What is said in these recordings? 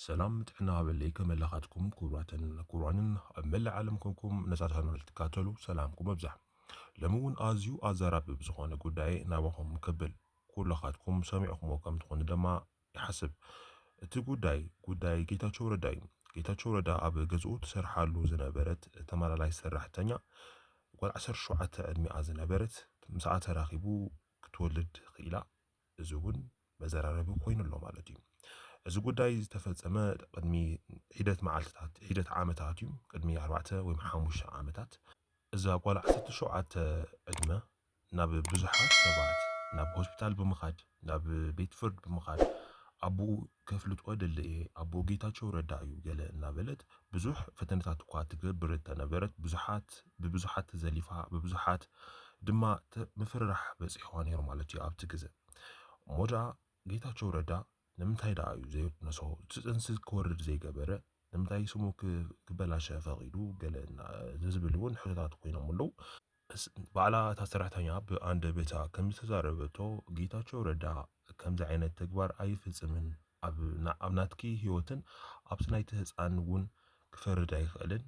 ሰላም ጥዕና ሃበለይ ከመይ ኣላኻትኩም ክቡራትን ክቡራንን ኣብ መላእ ዓለም ኮንኩም ነዛ ቻነል ትካተሉ ሰላምኩም ኣብዛሕ ሎሚ እውን ኣዝዩ ኣዛራቢ ብዝኾነ ጉዳይ ናባኹም ከብል ኩላኻትኩም ሰሚዕኹምዎ ከም ትኾኑ ደማ ይሓስብ እቲ ጉዳይ ጉዳይ ጌታቸው ረዳ እዩ ጌታቸው ረዳ ኣብ ገዝኡ ትሰርሓሉ ዝነበረት ተመላላይ ሰራሕተኛ ጓል 17 ዕድሚኣ ዝነበረት ምስኣ ተራኺቡ ክትወልድ ክኢላ እዚ እውን መዘራረቢ ኮይኑ ኣሎ ማለት እዩ። እዚ ጉዳይ ዝተፈፀመ ቅድሚ ሒደት መዓልትታት ሒደት ዓመታት እዩ ቅድሚ ኣርባዕተ ወይ ሓሙሽተ ዓመታት እዛ ጓል ዓሰርተ ሸውዓተ ዕድመ ናብ ብዙሓት ሰባት ናብ ሆስፒታል ብምኻድ ናብ ቤት ፍርድ ብምኻድ ኣቦኡ ከፍልጦ ደለ እየ ኣቦ ጌታቸው ረዳ እዩ ገለ እናበለት ብዙሕ ፈተነታት እኳ ትገብር እንተነበረት ብዙሓት ብብዙሓት ተዘሊፋ ብብዙሓት ድማ ምፍርራሕ በፂሕዋ ነይሩ ማለት እዩ ኣብቲ ግዘ እሞ ደኣ ጌታቸው ረዳ ንምንታይ ደኣ እዩ ዘይቅነሶ እቲ ፅንሲ ክወርድ ዘይገበረ ንምንታይ ስሙ ክበላሸ ፈቒዱ ገለ ዝብል እውን ሕቶታት ኮይኖም ኣለዉ ባዕላ እታ ሰራሕተኛ ብኣንደበታ ከምዝተዛረበቶ ጌታቸው ረዳ ከምዚ ዓይነት ተግባር ኣይፍፅምን፣ ኣብ ናትኪ ህይወትን ኣብቲ ናይቲ ህፃን እውን ክፈርድ ኣይኽእልን፣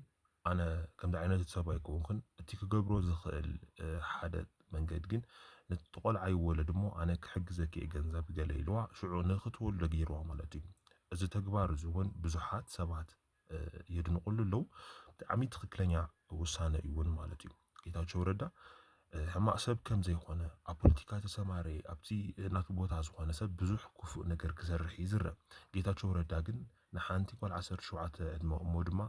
ኣነ ከምዚ ዓይነት ሰብ ኣይኮንኩን፣ እቲ ክገብሮ ዝኽእል ሓደ መንገድ ግን ነቲ ቆልዓ ይወለድ እሞ ኣነ ክሕግዘኪ እየ ገንዘብ ገለ ኢልዋ ሽዑ ንክትወልዶ ገይርዋ ማለት እዩ፣ እዚ ተግባር እዚ እውን ብዙሓት ሰባት የድንቑሉ ኣለዉ። ብጣዕሚ ትኽክለኛ ውሳነ እዩ እውን ማለት እዩ። ጌታቸው ረዳ ሕማቅ ሰብ ከም ዘይኮነ ኣብ ፖለቲካ ተሰማረየ ኣብዚ ናቱ ቦታ ዝኾነ ሰብ ብዙሕ ክፉእ ነገር ክሰርሕ ይዝረብ። ጌታቸው ረዳ ግን ንሓንቲ ጓል ዓሰርተ ሸውዓተ ዕድመ እሞ ድማ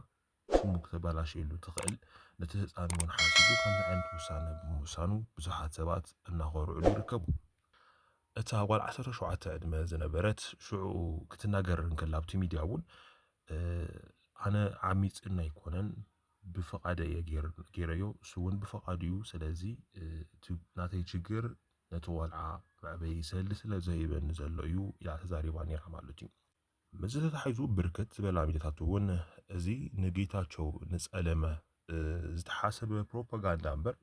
ስሙ ክተበላሸየሉ ትኽእል ነቲ ህፃን እውን ሓሲቡ ከምዚ ዓይነት ውሳነ ብምውሳኑ ብዙሓት ሰባት እናኾርዕሉ ይርከቡ። እታ ጓል ዓሰርተ ሸውዓተ ዕድመ ዝነበረት ሽዑኡ ክትናገር እንከላ ኣብቲ ሚድያ እውን ኣነ ዓሚፅኒ ኣይኮነን ብፍቓደ እየ ገይረዮ እሱ እውን ብፍቓዱ እዩ ስለዚ እቲ ናተይ ችግር ነቲ ቆልዓ መዕበዪ ሰልዲ ስለ ዘይህበኒ ዘሎ እዩ ኢላ ተዛሪባ ነይራ ማለት እዩ። ምስዚ ተተሓሒዙ ብርክት ዝበላ ሚድያታት እውን እዚ ንጌታቸው ንፀለመ ዝተሓሰበ ፕሮፓጋንዳ እምበር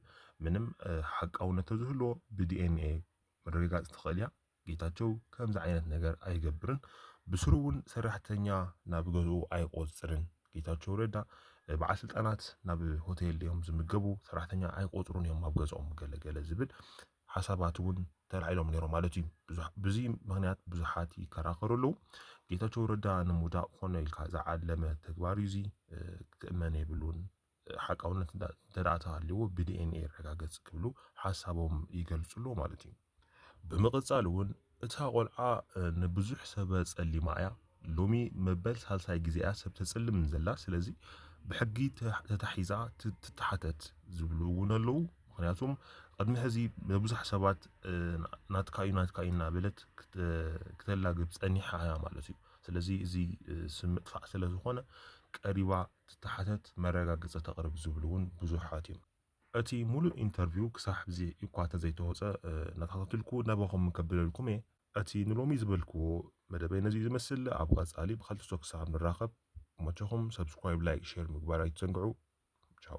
ምንም ሓቃውነት ተዝህልዎ ብዲኤንኤ ምርግጋፅ ትኽእል እያ ጌታቸው ከምዚ ዓይነት ነገር ኣይገብርን ብስሩ እውን ሰራሕተኛ ናብ ገዝኡ ኣይቆፅርን ጌታቸው ረዳ በዓል ስልጣናት ናብ ሆቴል እዮም ዝምገቡ ሰራሕተኛ ኣይቆፅሩን እዮም ኣብ ገዝኦም ገለገለ ዝብል ሓሳባት እውን ተላዒሎም ነይሮም ማለት እዩ። ብዙይ ምክንያት ብዙሓት ይከራከሩ ኣለው። ጌታቸው ረዳ ንምውዳቅ ኮነ ኢልካ ዝዓለመ ተግባር እዩ እዙይ ክእመን የብሉን። ሓቃውነት እንተደኣ ተሃልዎ ብዲኤንኤ ይረጋገፅ ክብሉ ሓሳቦም ይገልፁ ኣለው ማለት እዩ። ብምቅፃል እውን እታ ቆልዓ ንብዙሕ ሰበ ጸሊማ እያ ሎሚ መበል ሳልሳይ ግዜ እያ ሰብ ተጽልም ዘላ ስለዚ ብሕጊ ተታሒዛ ትተሓተት ዝብሉ እውን ኣለዉ ምክንያቱም ቅድሚ ሕዚ ንብዙሕ ሰባት ናትካ እዩ ናትካ እዩ እናበለት ክተላግብ ጸኒሓ እያ ማለት እዩ ስለዚ እዚ ስም ምጥፋእ ስለ ዝኾነ ቀሪባ ትተሓተት መረጋገጺ ተቕርብ ዝብሉ እውን ብዙሓት እዮም እቲ ሙሉእ ኢንተርቪው ክሳዕ ሕዚ እኳ ተዘይተወፀ እናተኸታተልኩ ናባኹም ከብለልኩም እየ። እቲ ንሎሚ ዝበልክዎ መደበይ ነዚ'ዩ ዝመስል። ኣብ ቐፃሊ ብኻልእ ዝቶ ክሳብ ንራኸብ ይመቸኹም። Subscribe፣ Like፣ Share ምግባር ኣይትዘንግዑ። ቻው።